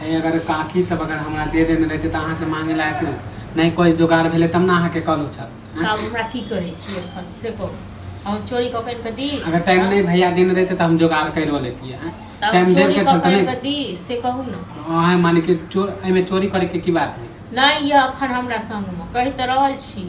हे अगर काकी सब अगर हमरा दे देने रहते तऽ अहाँ से मांगे लायक ने नहि कोई जोगाड़ भेले तब ने अहाँ के कहलो छल तऽ आब हमरा की कहै छी एखन से कहू हम चोरी कऽ कऽ दी अगर टाइम हाँ? नहीं भैया दिन रहते तो हम जोगाड़ कर लेती है टाइम देव के चलते नहीं दी से कहू ना हां माने कि चोर एमे चोरी करे के की बात है नहीं ये अखन हमरा संग में कहि त रहल छी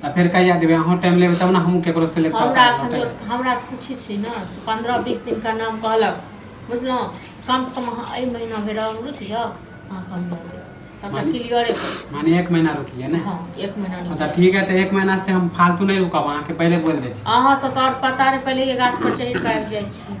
तऽ फेर कहिया देबै अहूँ टाइम लेबै तब ने हमहूँ केकरो से लेबै हमरा एखन हमरा से पूछै छी ने पन्द्रह बीस दिन का नाम कहलक बुझलहुँ कम से कम अहाँ एहि महीना भरि और रुक जाउ अहाँके हम दऽ देब सबटा माने- क्लियरे करू माने एक महीना रुकिए ने हँ एक महीना रुक मतलब ठीक है तो एक महीना से हम फालतू नहीं रुकब अहाँके पहले बोल दै छी अहाँ सब तो और पता नहीं पहले ये गाछ पर चढ़ के आबि जाइ छी